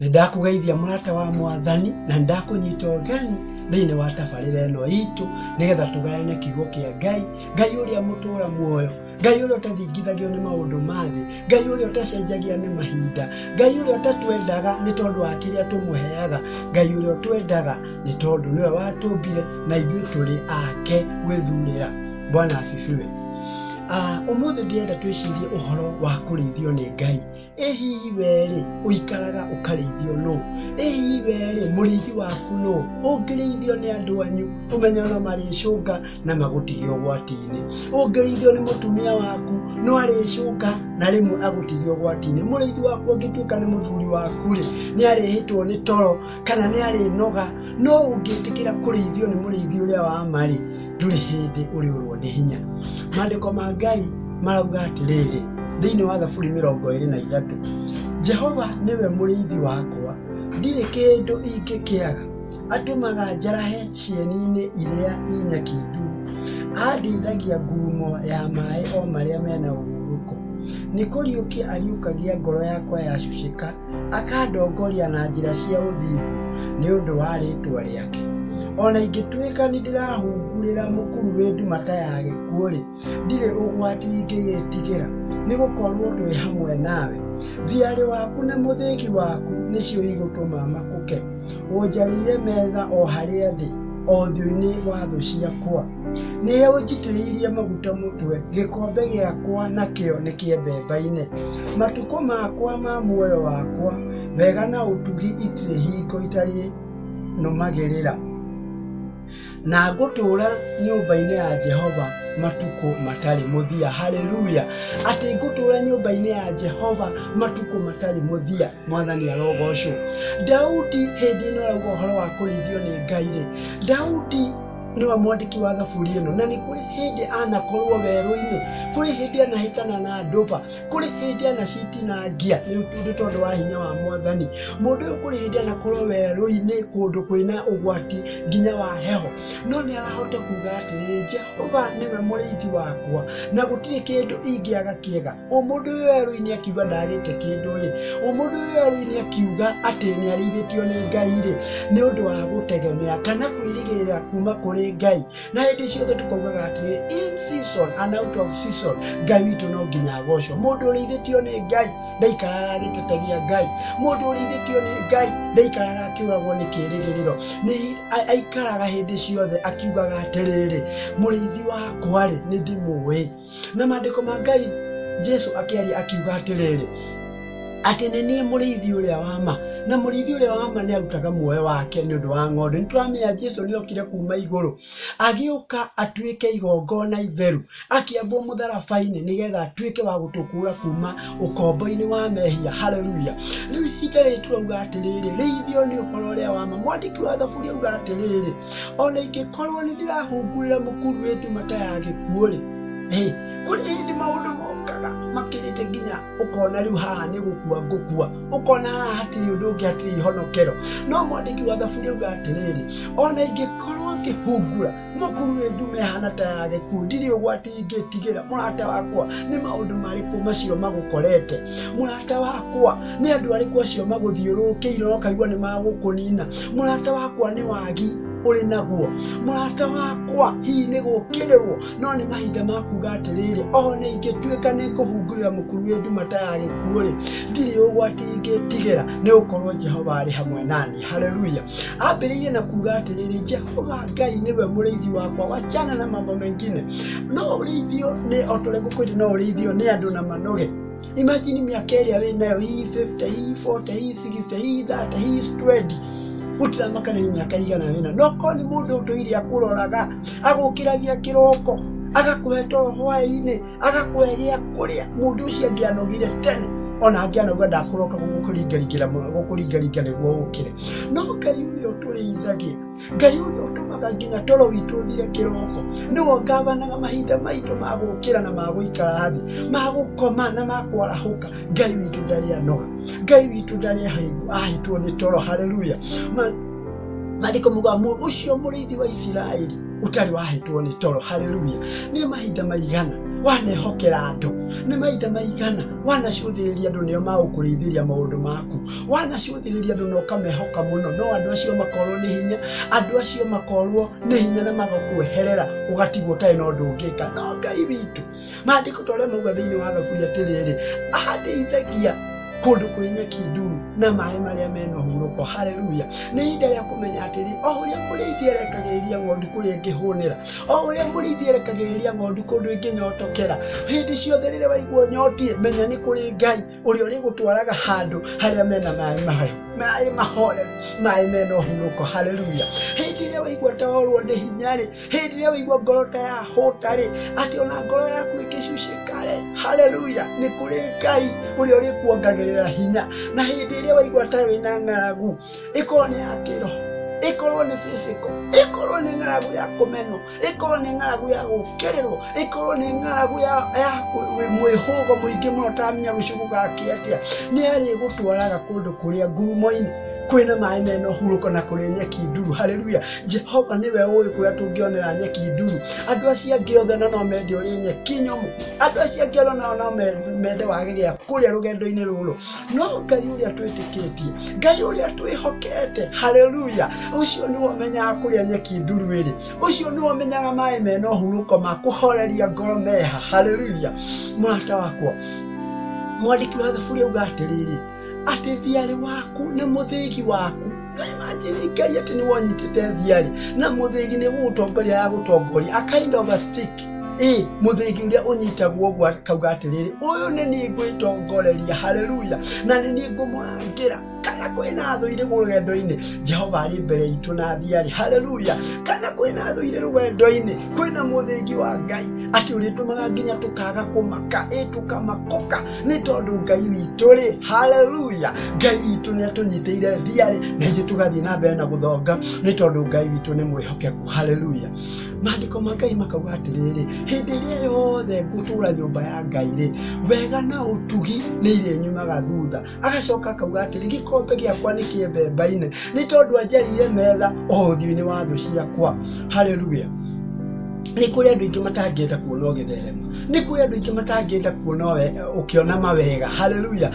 nĩ ndakũgeithia mũrata wa mwathani na ndakũnyita ũgeni thĩinĩ wa tabarĩra ĩno itũ nĩgetha tũgayane kiugo kĩa ngai ngai ũrĩa mũtũra muoyo ngai ũrĩa ũtathingithagio nĩ maũndũ ma thĩ ngai ũrĩa ũtacenjagia nĩ mahinda ngai ũrĩa ũtatwendaga nĩ tondũ wa kĩrĩa tũmũheaga ngai ũrĩa ũtwendaga nĩ tondũ nĩwe watũmbire na ithuĩ tũrĩ ake gwĩthurĩra bwana asifiwe Ah, ũmũthĩ ndĩrenda twĩcirie ũhoro wa kũrĩithio nĩ ngai ĩ hihi werĩ ũikaraga ũkarĩithio nũ ĩ hihi werĩ mũrĩithi waku nũ ũngĩrĩithio nĩ andũ anyu ũmenye no marĩcũnga na magũtige ũgwati-inĩ ũngĩrĩithio nĩ mũtumia waku no arĩcũnga na rĩmwe agũtige ũgwati-inĩ mũrĩithi waku angĩtuĩka nĩ mũthuri waku rĩ nĩ arĩhĩtwo nĩ toro kana nĩ arĩnoga no ũngĩtĩkĩra kũrĩithio nĩ mũrĩithi ũrĩa wa ma rĩ ndũrĩ hĩndĩ ũrĩũrwo nĩ hinya maandĩko ma ngai marauga atĩrĩrĩ thĩinĩ wa thaburi mĩrongo ĩrĩ na ithatũ jehova nĩwe mũrĩithi wakwa ndirĩ kĩndũ ingĩkĩaga atũmaga njarahe cieni-inĩ iria inyaki nduru andĩithagia ngurumo ya maĩ o marĩa mena ũhurũko nĩ kũriũkia ariũkagia ngoro yakwa yacucĩka akandongoria na njĩra cia ũthingu nĩ ũndũ wa rĩtwa rĩake o na ingĩtuĩka nĩ ndĩrahungurĩra mũkuru wĩ ndumata ya gĩkuũ-rĩ ndirĩ ũgwati ingĩgĩtigĩra nĩ gũkorwo twĩ hamwe nawe thiarĩ waku na mũthĩgi waku nĩcio igũtũma makũke ũnjarĩire metha o harĩa ndĩ o thiũ-inĩ wa thũ ciakwa nĩwe ũnjitĩrĩirie maguta mũtwe gĩkombe gĩakwa nakĩo nĩ kĩembembaine Matukũ makwa ma muoyo wakwa, wega na ũtugi itirĩ hingo itarĩ nũmagĩrĩra, na ngũtũũra nyũmba-inĩ ya Jehova matukũ matarĩ mũthia. Haleluya! Atĩ ngũtũũra nyũmba-inĩ ya Jehova matukũ matarĩ mũthia. Mwathani arogocwo. Daudi hĩndĩ ĩno arauga ũhoro wa kũrĩithio nĩ Ngai-rĩ, Daudi nĩwe mwandĩki wa thaburi ĩno na nĩ kũrĩ hĩndĩ anakorwo werũ-inĩ kũrĩ hĩndĩ anahĩtana na ndũba kũrĩ hĩndĩ anacitinangia nĩ ũndũ tondũ wa hinya wa mwathani mũndũ ũyũ kũrĩ hĩndĩ anakorwo werũ-inĩ kũndũ kwĩna ũgwati nginya wa heho no nĩ arahota kuga atĩrĩ jehova nĩwe mũrĩithi wakwa na gũtirĩ kĩndũ ingĩaga kĩega ũmũndũ ũyũ werũ-inĩ akiuga ndagĩte kĩndũ-rĩ ũmũndũ ũyũ werũ-inĩ akiuga atĩ nĩ arĩithĩtio nĩ ngai-rĩ nĩ ũndũ wa gũtegemea kana kwĩrĩgĩrĩra kuma kũrĩ ngai na hĩndĩ ciothe tũkaugaga atĩrĩ in season and out of season ngai witũ no nginya agocwo mũndũ ũrĩithĩtio nĩ ngai ndaikaraga agĩtetegia ngai mũndũ ũrĩithĩtio nĩ ngai ndaikaraga akĩũragwo nĩ kĩrĩgĩrĩro nĩ a- aikaraga hĩndĩ ciothe akiugaga atĩrĩrĩ mũrĩithi wakwa-rĩ nĩ ndĩmũĩ na maandĩko ma ngai jesu akĩaria akiuga atĩrĩrĩ atĩ nĩ niĩ mũrĩithi ũrĩa wa ma na mũrĩithi ũrĩa wa ma nĩ arutaga muoyo wake nĩ ũndũ wa ng'ondu nĩ tũramenya jesu nĩ okire kuma igũrũ agĩũka atuĩke igongona itheru akĩambwo mũtharaba-inĩ nĩgetha atuĩke wa gũtũkũra kuma ũkomboinĩ wa mehia haleluya rĩu ihinda rĩrĩ turauga atĩrĩrĩ rĩithio nĩ ũhoro ũrĩa wa ma mwandĩki wa thaburi auga atĩrĩrĩ ona ingĩkorwo nĩ ndĩrahungurĩra mũkuru wĩ ndumata ya gĩkuũ-rĩ Hey, kũrĩ hĩndĩ maũndũ mokaga makĩrĩte nginya ũkona rĩu haha nĩ gũkua ngũkua ũkona haha hatirĩ ũndũ ũngĩ hatirĩ ihonokero no mwandĩki wa thaburi auga atĩrĩrĩ ona ingĩkorwo ngĩhungura mũkuru wĩ ndume hana ta ya gĩkuũ ndirĩ ũgwati ingĩtigĩra mũrata wakwa nĩ maũndũ marĩkũ macio magũkorete mũrata wakwa nĩ andũ arĩkũ acio magũthiũrũrũkĩire ũkaigua nĩ magũkũnina mũrata wakwa nĩ wagi ũrĩ naguo mũrata wakwa hihi nĩ gũkĩrĩrwo no nĩ mahinda ma kuga atĩrĩrĩ o na ingĩtuĩka nĩ ngũhungurĩra mũkuru wĩ nduma ta ya gĩkuũ-rĩ ndirĩ ũgwati ingĩtigĩra nĩ gũkorwo jehova arĩ hamwe nani Haleluya. Ambĩrĩirie na kuuga atĩrĩrĩ, Jehova Ngai nĩwe mũrĩithi wakwa, wachana na mambo mengine. No ũrĩithio nĩ o ta ũrĩa ngũkũ ĩrĩ no ũrĩithio nĩ andũ na manoge. Imagine mĩaka ĩrĩa wĩ nayo hihi 50, hihi 40, hihi 60, hihi 30, hihi 20 gũtiramaka nĩ mĩaka ĩigana wĩna no korwo nĩ mũndũ ũtũire akũroraga agũkĩragia kĩroko agakũhe toro hwaĩ-inĩ agakweheria kũrĩa mũndũ ũcio angĩanogire tene ona angĩanogire ndakũroka gũkũringaringĩra gũkũringaringa nĩguo ũkĩre no ngai ũrĩa ũtũrĩithagia ngai ũrĩa ũtũmaga nginya toro witũ ũthire kĩroko nĩwe ũngavanaga mahinda maitũ ma gũkĩra na ma gũikara thĩ ma gũkoma na ma kwarahũka ngai witũ ndarĩ anoga ngai witũ ndarĩ ahĩngũ- ahĩtwo nĩ toro haleluya Ma- maandĩko muga mũndũ ũcio mũrĩithi wa isiraeli ũtarĩ wahetwo nĩ toro haleluya nĩ mahinda maigana wanehokera andũ nĩ mahinda maigana wanacũthĩrĩria andũ nĩo magũkũrĩithĩria maũndũ maku wanacũthĩrĩria andũ na ũkamehoka mũno no andũ acio makorwo nĩ hinya andũ acio makorwo nĩ hinya na magakweherera ũgatigwo ũtarĩ na ũndũ ũngĩka no ngai witũ maandĩko ta ũrĩa mauga thĩinĩ wa thaburi atĩrĩrĩ ahandĩithagia kũndũ kwĩ nyeki nduru na maĩ marĩa mena hurũko haleluya nĩ ihinda rĩa kũmenya atĩrĩ o ũrĩa mũrĩithi erekagĩrĩria ng'ondu kũrĩa ĩngĩhũnĩra o ũrĩa mũrĩithi erekagĩrĩria ng'ondu kũndũ ĩngĩnyotokera hĩndĩ ciothe rĩrĩa waigua nyotie menya nĩ kũrĩ ngai ũrĩa ũrĩgũtwaraga handũ harĩa mena maĩ mahehu maĩ mahoreru maĩ mena ũhurũko haleluya hĩndĩ ĩrĩa waigua ta worwo nĩ hinya rĩ hĩndĩ ĩrĩa waigua ngoro ta yahũta rĩ atĩ ona ngoro yaku ĩngĩcucĩka rĩ haleluya nĩ kũrĩ ngai ũrĩa ũrĩkuongagĩrĩra hinya na hĩndĩ ĩrĩa waigua ta wĩna ng'aragu ĩkorwo nĩ ya kĩroho ĩkorwo nĩ physical ĩkorwo nĩ ng'aragu ya kũmenwo ĩkorwo nĩ ng'aragu ya gũkĩrĩrwo ĩkorwo nĩ ng'aragu ya ya kũ- wĩ- mwĩhũgo mũingĩ mũno ũtaramenya rũciũ gũgakĩa atĩa nĩ arĩgũtwaraga kũndũ kũrĩa ngurumo-inĩ kwĩna maĩ mena ũhurũko na kũrĩa nyeki nduru haleluya jehova nĩwe ũĩ kũrĩa tũngĩonera nyeki nduru andũ acio angĩ othe na no mende ũrĩ nyeki nyũmũ andũ acio angĩ othe nao no me- mende wage gĩa kũrĩa rũgendo-inĩ rũrũ no ngai å rä a twä tä kä tie ngai å rä a twä hokete haleluya å cio nä wamenyaga kå rä a nyeki nduru ä rä å cio nä wamenyaga maä mena å hurå ko ma kå horeria ngoro meha haleluya mũrata wakwa mwandĩki wa thaburi auga atĩrĩrĩ atĩ thiarĩ waku nĩ mũthĩgi waku Na imagine ngai atĩ nĩ wonyitĩte thiarĩ na mũthĩgi nĩ gũgũtongoria ya gũtongoria a kind of a stick ĩ mũthĩgi ũrĩa ũnyitagwo ũguo akauga atĩrĩrĩ ũyũ nĩ niĩ ngwĩtongoreria haleluya na nĩ niĩ ngũmũrangĩra kana kwĩna athũire rũgendo-inĩ jehova arĩ mbere itũ na thiarĩ haleluya kana kwĩna athũire rũgendo-inĩ kwĩna mũthĩgi wa ngai atĩ ũrĩtũmaga nginya tũkaga kũmaka ĩ tũkamakũka nĩ tondũ ngai witũ rĩ haleluya ngai witũ nĩ atũnyitĩire thiarĩ na ithuĩ tũgathiĩ na mbere na gũthonga nĩ tondũ ngai witũ nĩ mwĩhokeku haleluya Maandĩko ma Ngai makauga atĩrĩrĩ, hĩndĩ ĩrĩa yothe ngũtũũra nyũmba ya Ngai-rĩ, wega na ũtugi nĩ irĩnyumaga thutha. Agacoka akauga atĩrĩ, gĩkombe gĩakwa nĩ kĩembeembaine, nĩ tondũ anjarĩire metha o ũthiũ-inĩ wa thũ ciakwa. Haleluya! Nĩ kũrĩ andũ aingĩ matangĩenda kuona ũgĩtherema. Nĩ kũrĩ andũ aingĩ matangĩenda kuona ũkĩona mawega. Haleluya!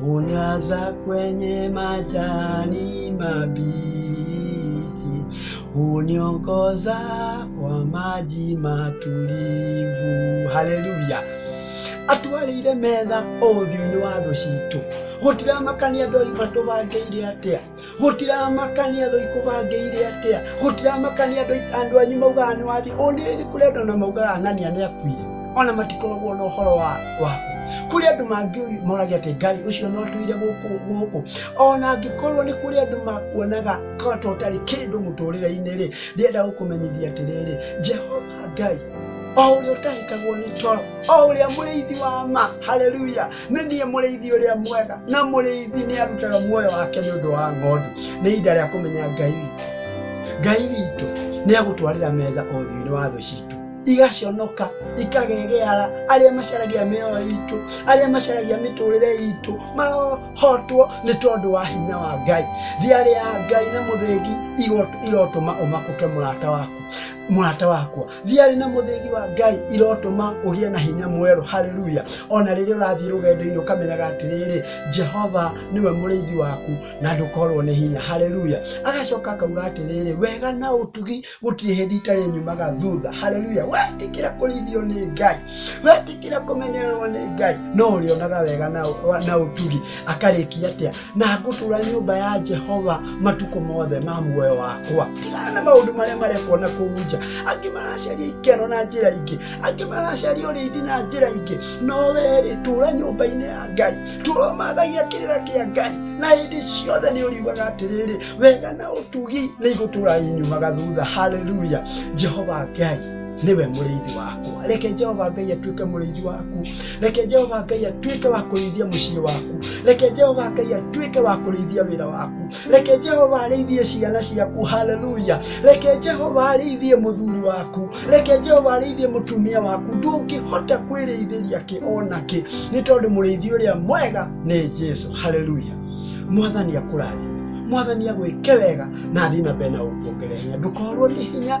Hunilaza kwenye majani mabichi, huniongoza kwa maji matulivu. Haleluya! atwarĩire metha o ũthiũ-inĩ wa thũ citũ gũtiramakania andũ aitũ matũbangĩire atĩa gũtiramakania andũ ikũbangĩire atĩa gũtiramakania andũ andũ anyu maugaga nĩ wathiĩ ũnĩĩ nĩ kũrĩ andũ na maugaga anania nĩ akuire ona matikoragwo na ũhoro wa waku kũrĩ andũ mangĩ moragia atĩ ngai ũcio no atũire gũkũ gũkũ ona angĩkorwo nĩ kũrĩ andũ makuonaga kata ũtarĩ kĩndũ mũtũrĩre-inĩ rĩ ndĩrenda gũkũmenyithia atĩrĩrĩ jehova ngai o ũrĩa ũtahĩtagwo nĩ toro o ũrĩa mũrĩithi wa ma haleluya nĩ niĩ mũrĩithi ũrĩa mwega na mũrĩithi nĩ arutaga muoyo wake nĩ ũndũ wa ng'ondu nĩ ihinda rĩa kũmenya ngai witũ ngai witũ nĩ agũtwarĩra metha ũthiũ-inĩ wa thũ citũ igaconoka ikagegeara arĩa macaragia mĩoyo itũ arĩa macaragia mĩtũrĩre itũ marohotwo nĩ tondũ wa hinya wa ngai thiarĩ ya ngai na mũthĩgi igo- irotũma ũmakũke mũrata waku mũrata wakwa thiarĩ na mũthĩgi wa ngai irotũma ũgĩe na hinya mwerũ haleluya ona rĩrĩa ũrathiĩ rũgendo-inĩ ũkamenyaga atĩrĩrĩ jehova nĩwe mũrĩithi waku na ndũkorwo nĩ hinya haleluya agacoka akauga atĩrĩrĩ wega na ũtugi gũtirĩ hĩndĩ itarĩ nyumaga thutha haleluya wetĩkĩra kũrĩithio nĩ ngai wetĩkĩra kũmenyererwo nĩ ngai no ũrĩonaga wega na, na ũtugi akarĩkia atĩa na ngũtũra nyũmba ya jehova matukũ mothe ma muoyo wakwa tigana na maũndũ marĩa marekwo na kũu nja angĩ maracaria ikeno na njĩra ingĩ angĩ maracaria ũrĩithi na njĩra ingĩ no werĩ tũra nyũmba-inĩ ya ngai tũra ũmathagia kĩrĩra kĩa ngai na hĩndĩ ciothe nĩ ũriugaga atĩrĩrĩ wega na ũtugi nĩ igũtũra inyumaga thutha haleluya jehova ngai niwe mũrĩithi wakwa reke jehova ngai atuĩke mũrĩithi waku reke jehova ngai atuĩke wa kũrĩithia mũciĩ waku reke jehova ngai atuĩke wa kũrĩithia wĩra waku reke jehova arĩithie ciana ciaku haleluya reke jehova arĩithie mũthuri waku reke jehova arĩithie mũtumia waku ndũngĩhota kwĩrĩithĩria kĩ ona kĩ nĩ tondũ mũrĩithi ũrĩa mwega nĩ jesu haleluya mwathani akũrathime mwathani agwĩke wega na athiĩ na mbere na gũkuongerera hinya ndũkorwo nĩ hinya